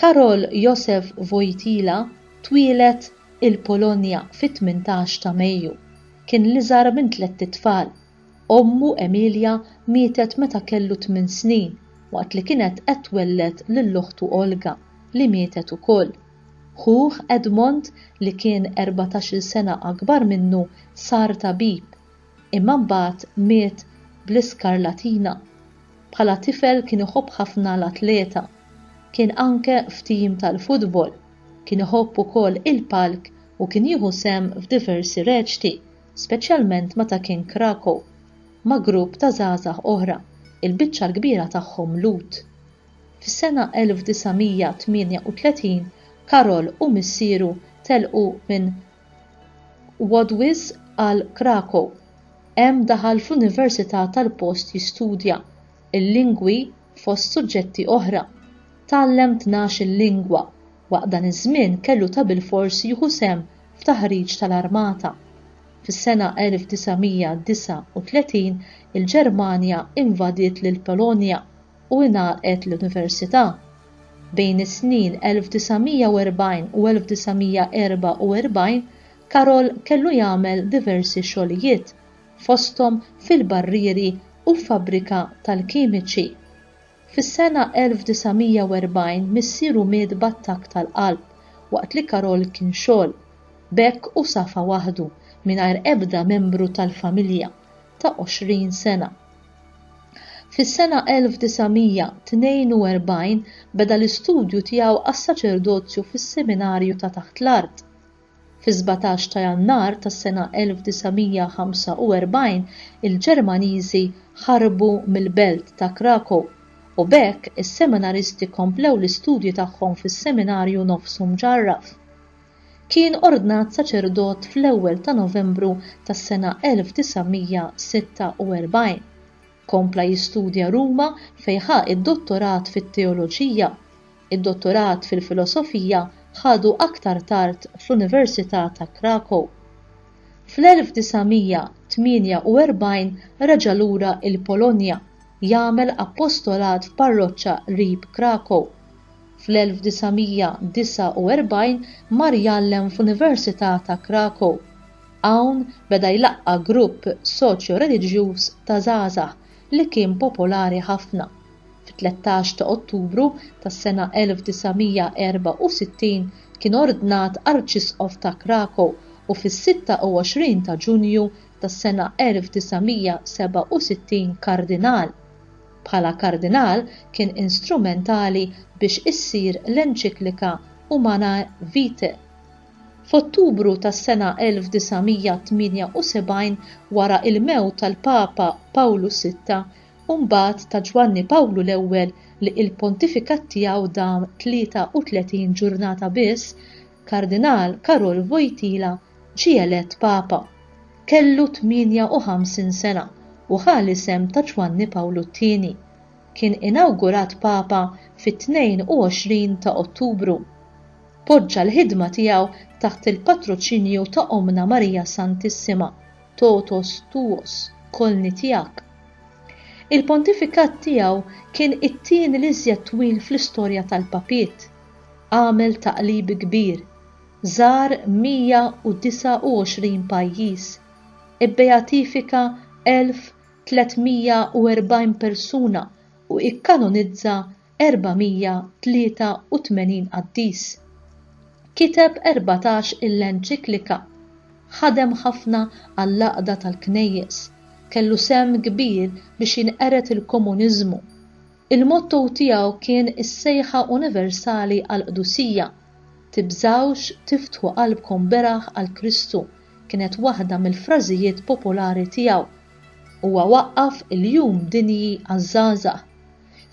Karol Józef Wojtyla twieled il-Polonja fit-tmintax ta' Mejju. Kien l-iżgħar minn tlett itfal. Ommu Emilia mietet meta kellu tmien snin waqt li kienet qed twelled lil oħtu Olga li mietet ukoll. Ħuh Edmond li kien erbatax-il sena akbar minnu sar tabib. Imma mbagħad miet bl-iskarlatina. Bħala tifel kien iħobb ħafna l-atleta. Kien anke f'tim tal-futbol. Kien iħobb ukoll il-palk u kien jieħu sehem f'diversi reċti, speċjalment meta kien Krakow, ma' grupp ta' żgħażagħ oħra, il-biċċa l-kbira tagħhom Lhud. Fis-sena 1938 Karol u missieru telqu minn Wod wisq għal Krakow. Hemm daħal fl-università tal-post jistudja, il-lingwi fost suġġetti oħra. Tgħallem tnax-il lingwa, waqt dan iż-żmien kellu ta' bilfors jieħu sehem f'taħriġ tal-armata. Fis-sena 1939 il-Ġermanja invadiet lill-Polonja. u ingħalqet l-Università. Bejn is-snin 1940 u 1944 Karol kellu jagħmel diversi xogħlijiet, fosthom fil-barrieri u f'fabbrika tal-kimiċi. Fis-sena 1940 missieru miet b'attakk tal-qalb waqt li Karol kien xogħol. B'hekk hu safa waħdu, mingħajr ebda membru tal-familja, ta' 20 sena. Fis-sena 1942 beda l-istudju tiegħu għas-saċerdozju fis-seminarju ta' taħt l-art. Fis-sbatax ta' Jannar tas-sena 1945 il-Ġermaniżi ħarbu mill-belt ta' Krakow u b'hekk is-seminaristi komplew l-istudji tagħhom fis-seminarju nofsu mġarraf. Kien ordnat saċerdot fl-ewwel ta' Novembru tas-sena 1946. Kompla jistudja Ruma fejn ħa d-dottorat fit-teoloġija. Id-dottorat fil-filosofija ħadu aktar tard fl-Università ta' Krakow. Fl-1948 reġa' lura l-Polonja jagħmel appostolat f'parroċċa qrib Krakow. Fl-1949 mar jgħallem f'Università ta' Krakow. Hawn beda jlaqqa' grupp soċjo-reliġjuż ta' żgħażagħ li kien popolari ħafna. Fit-tlettax ta' Ottubru tas-sena 1964 kien ordnat Arċisqof ta' Krakow u fis-26 ta' Ġunju tas-sena 1967 Kardinal. Bħala Kardinal kien instrumentali biex issir l-enċiklika Humanae Vitae. F'Ottubru tas-sena 1978, wara il-mewt tal-Papa Pawlu Sitta u mbagħad ta' Ġwanni Pawlu l-Ewwel li il-pontifikat tiegħu dam 33 ġurnata biss, Kardinal Karol Wojtyla ġie elett Papa. Kellu 58 sena u ħa l-isem ta' Ġwanni Pawlu t-Tieni. Kien inawgurat Papa fit-22 ta' Ottubru. Poġġa l-ħidma tiegħu taħt il-patroċinju ta' Ommna Marija Santissima, Totus tuos, Kolni tiegħek. Il-pontifikat tiegħu kien it-tieni l-iżjed twil fl-istorja tal-papiet. għamel taqlib kbir, żar 129 pajjiż, ibbeatifika 1,340 persuna u kkanonizza 483 qaddis. Kiteb erbatax il-enċiklika. Ħadem ħafna għall-għaqda tal-Knejjes. Kellu sehem kbir biex jinqered il-komuniżmu. Il-motto tiegħu kien is-sejħa universali għall-qdusija, Tibżgħux tiftħu qalbkom beraħ għal Kristu kienet waħda mill-frażijiet popolari tiegħu. Huwa waqqaf il-Jum Dinji għaż-Żgħażagħ.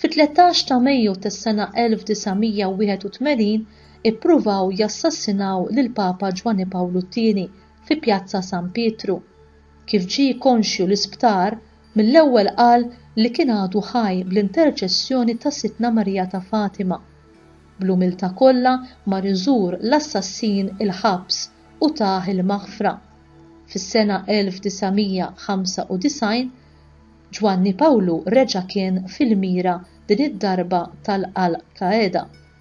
Fit-tlettax ta' Mejju tas-sena 1981 ippruvaw jassassinaw lill-Papa Ġwanni Pawlu t-Tieni fi Pjazza San Pietru. Kif ġie konxju l-isptar, Mill-ewwel qal li kien għadu ħaj bl-interċessjoni ta' Sidtna Marija ta' Fatima. Bl-umiltà kollha mar iżur l-assassin il-ħabs u tah il-maħfra. Fis-sena 1995, Ġwanni Pawlu reġa' kien fil-mira din id-darba tal-Al Qaeda.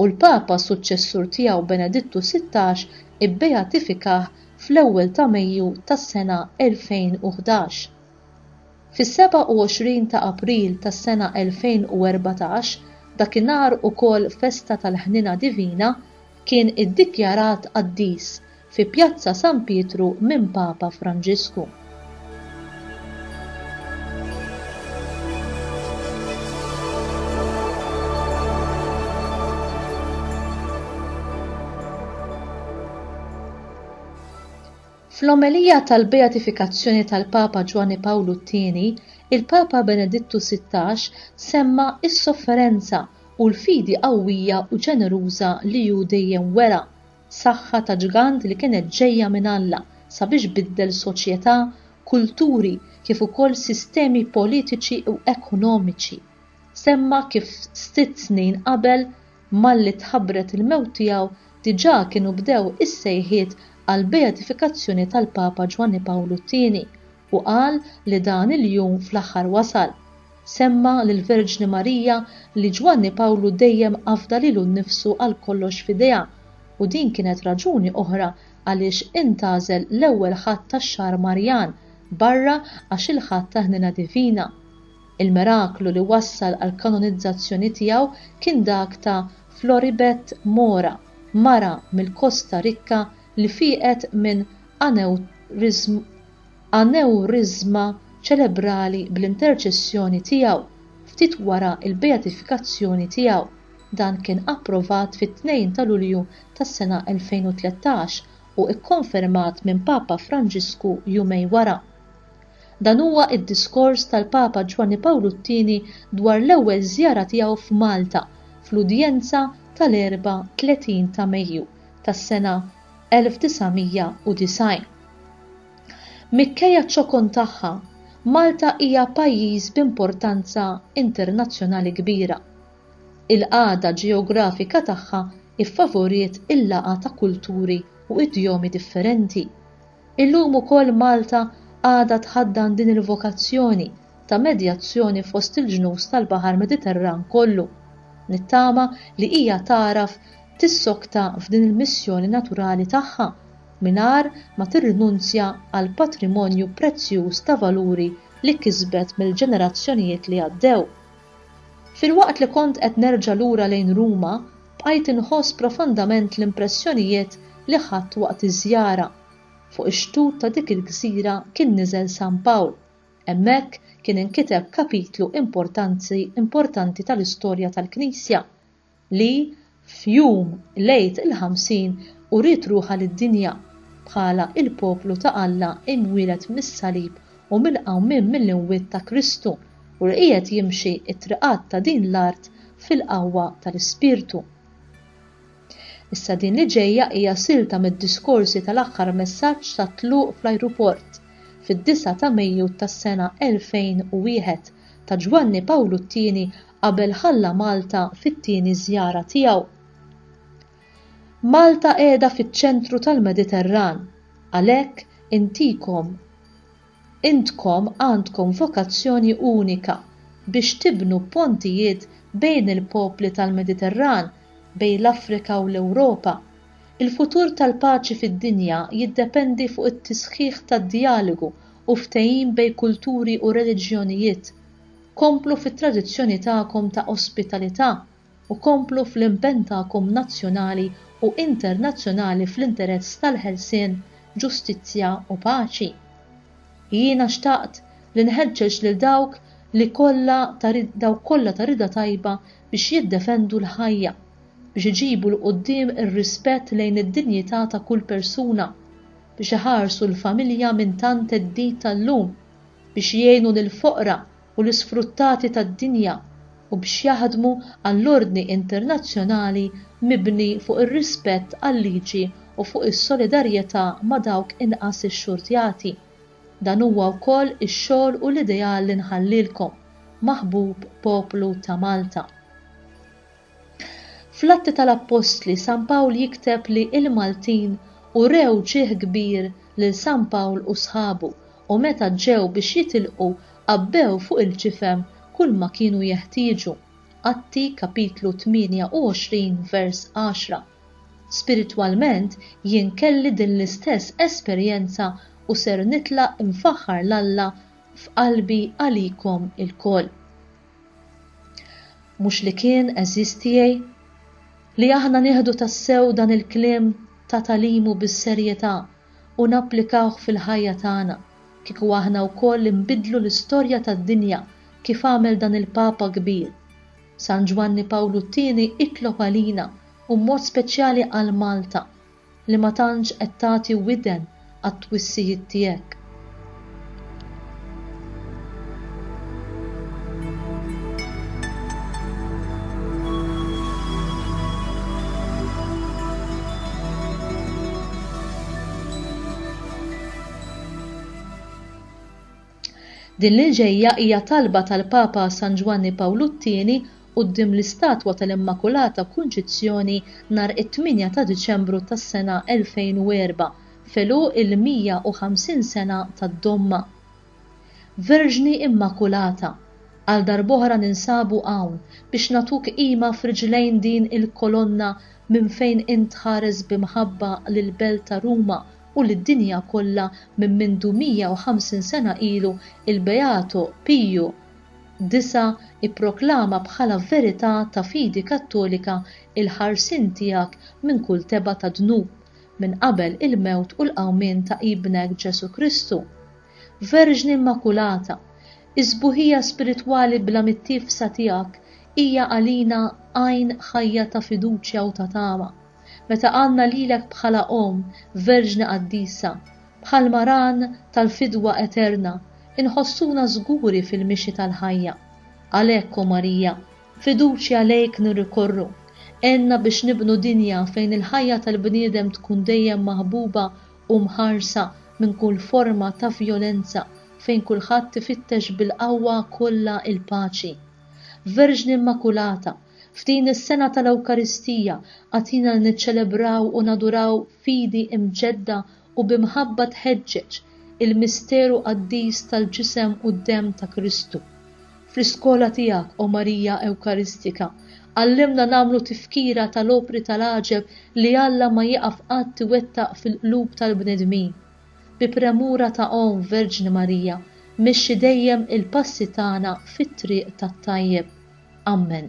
u l-Papa suċċessur tiegħu Benedittu xvi ibbeatifikah fl-ewwel ta' Mejju tas-sena 2011. Fis-27 ta' April tas-sena 2014, dakinhar ukoll festa tal-Ħniena Divina, kien iddikjarat qaddis fi Pjazza San Pietru minn Papa Franġisku. Fl-omelija tal-Beatifikazzjoni tal-Papa Ġwanni Pawlu t-Tieni, il-Papa Benedittu Sittax semma s-sofferenza u l-fidi qawwija u ġeneruża li hu dejjem wera saħħa ta' ġgant li kienet ġejja minn Alla sabiex biddel soċjetà, kulturi kif ukoll sistemi politiċi u ekonomiċi. Semma kif sitt snin qabel malli tħabbret il-mewt tiegħu diġà kienu bdew is-sejħiet għall-beatifikazzjoni tal-Papa Ġwanni Pawlu t-Tieni u qal li dan il-jum fl-aħħar wasal. Semma lill-Verġni Marija li Ġwanni Pawlu dejjem afda lilu nnifsu għal kollox f'idejha u din kienet raġuni oħra għaliex intgħażel l-ewwel Ħadd tax-xahar Marjan barra għax il-Ħadd tal-Ħniena Divina. Il-miraklu li wassal għall-kanonizzazzjoni tiegħu kien dak ta' Floribet Mora, mara mill-Kosta Rikka li fieqet minn anewriżma ċerebrali bl-interċessjoni tiegħu ftit wara l-beatifikazzjoni tiegħu. Dan kien approvat fit-2 ta' Lulju tas-sena 2013 u kkonfermat minn Papa Franġisku jumejn wara. Dan huwa d-diskors tal-Papa Ġwanni Pawlu t-Tieni dwar l-ewwel żjara tiegħu f'Malta fl-udjenza tal-34 ta' Mejju tas-sena 1990. Mikkejja ċ-ċokon tagħha, Malta hija pajjiż b'importanza internazzjonali kbira. Il-qagħda ġeografika tagħha ffavoriet il-laqgħa ta' kulturi u idjomi differenti. Illum ukoll Malta għadha tħaddan din il-vokazzjoni ta' medjazzjoni fost il-ġnus tal-Baħar Mediterran kollu. Nittama li hija tagħraf tissokta f'din il-missjoni naturali tagħha mingħajr ma tirrinunzja għall-patrimonju prezzjuż ta' valuri li kisbet mill-ġenerazzjonijiet li għaddew. Filwaqt li kont qed nerġa' lura lejn Ruma, bqajt inħoss profondament l-impressjonijiet li ħadt waqt iż-żjara. Fuq ix-xtut ta' dik il-gżira kien niżel San Pawl. Hemmhekk kien inkiteb kapitlu importanti importanti tal-istorja tal-Knisja, li f'jum l-Għid il-Ħamsin uriet ruħha lid-dinja bħala l-poplu ta' Alla imwieled mis-salib u mill-qawmien mill-imwiet ta' Kristu u li qiegħed jimxi t-triqat ta' din l-art fil-qawwa tal-Ispirtu. Issa din li ġejja hija silta mid-diskorsi tal-aħħar messaġġ tat-tluq fl-ajruport, fid-disgħa ta' Mejju tas-sena 2001, ta' Ġwanni Pawlu t-Tieni qabel ħalla Malta fit-tieni żjara tiegħu. Malta qiegħda fiċ-ċentru tal-Mediterran, għalhekk intikom, Intkom għandkom vokazzjoni unika biex tibnu pontijiet bejn il-popli tal-Mediterran, bejn l-Afrika u l-Ewropa. Il-futur tal-paċi fid-dinja jiddependi fuq it-tisħiħ tad-djalogu u ftehim bejn kulturi u reliġjonijiet. Komplu fit-tradizzjoni tagħkom ta' ospitalità u komplu fl-impenn tagħkom nazzjonali u internazzjonali fl-interess tal-ħelsien, ġustizzja u paċi. Jiena xtaqt li nħeġġeġ lil dawk li kollha ta' dawk kollha ta' rida tajba biex jiddefendu l-ħajja, biex iġibu 'l quddiem ir-rispett lejn id-dinjità ta' kull persuna, biex iħarsu l-familja minn tant theddid tal-lum, biex jgħinu lill-foqra, u l-isfruttati tad-dinja u biex jaħdmu għall-ordni internazzjonali mibni fuq ir-rispett għal-liġi u fuq is-solidarjetà ma' dawk inqas ixxurtjati. Dan huwa wkoll ix-xogħol u l-ideal li nħallilkom, maħbub poplu ta' Malta. Fl-Atti tal-Appostli San Pawl jikteb li il-Maltin urew ġieħ kbir lil San Pawl u sħabu u meta ġew biex jitilqu għabbew fuq il-ġifem kulma kienu jeħtieġu, Atti kapitlu 28 vers 10. Spiritwalment jien kelli din l-istess esperjenza u ser nitlaq imfaħħar 'l Alla f'qalbi għalikom ilkoll. Mhux li kien, għeżież tiegħi, li aħna nieħdu tassew dan il-kliem ta' tagħlimu bis-serjetà, u napplikawh fil-ħajja tagħna, kieku aħna wkoll inbiddlu l-istorja tad-dinja kif għamel dan il-Papa kbir. San Ġwanni Pawlu t-Tieni itlob għalina u b'mod speċjali għal Malta, li ma tantx qed tagħti widen għat-twissijiet tiegħek. Din li ġejja hija talba tal-Papa San Ġwanni Pawlu t-Tieni quddiem l-istatwa tal-Immakulata Kunċizzjoni nhar it-8 ta' Diċembru tas-sena 2004 f'għeluq il-150 sena tad-Domma. Verġni Immakulata, għal darb'oħra ninsabu hawn biex nagħtuk qima f'riġlejn din il-kolonna minn fejn int tħares b'imħabba lill-belt ta' Ruma u lid-dinja kollha minn mindu 150 sena ilu il-Beato Piju ix ipproklama bħala verità ta' fidi Kattolika il-ħarsien tiegħek minn kull tebgħa ta' dnub minn qabel il-mewt u l-qawmien ta' Ibnek Ġesù Kristu. Verġni Immakulata, is-sbuħija spiritwali bla mittiefsa tiegħek hija għalina għajn ħajja ta' fiduċja u ta' tama. Meta għandna lilek bħala Omm, Verġni Qaddisa, bħalma Ran tal-fidwa eterna, inħossuna żguri fil-mixi tal-ħajja. Għalhekk, O Marija, Fiduċja lejk nirrikorru. Għenna biex nibnu dinja fejn il-ħajja tal-bniedem tkun dejjem maħbuba u mħarsa minn kull forma ta' vjolenza, fejn kulħadd ifittex bil-qawwa kollha l-paċi. Verġni Immakulata, f'din is-sena tal-Ewkaristija, agħtina li niċċelebraw u naduraw fidi imġedda u bi mħabba tħeġġeġ il-misteru qaddis tal-Ġisem u d-Demm ta' Kristu. Fl-iskola tiegħek, O Marija Ewkaristika, għallimna nagħmlu tifkira tal-opri tal-għaġeb li Alla ma jieqaf qatt iwettaq fil-qlub tal-bnedmin. Bi premura ta' Omm Verġni Marija, mexxi dejjem il-passi tagħna fit-triq tat-tajjeb. Ammen.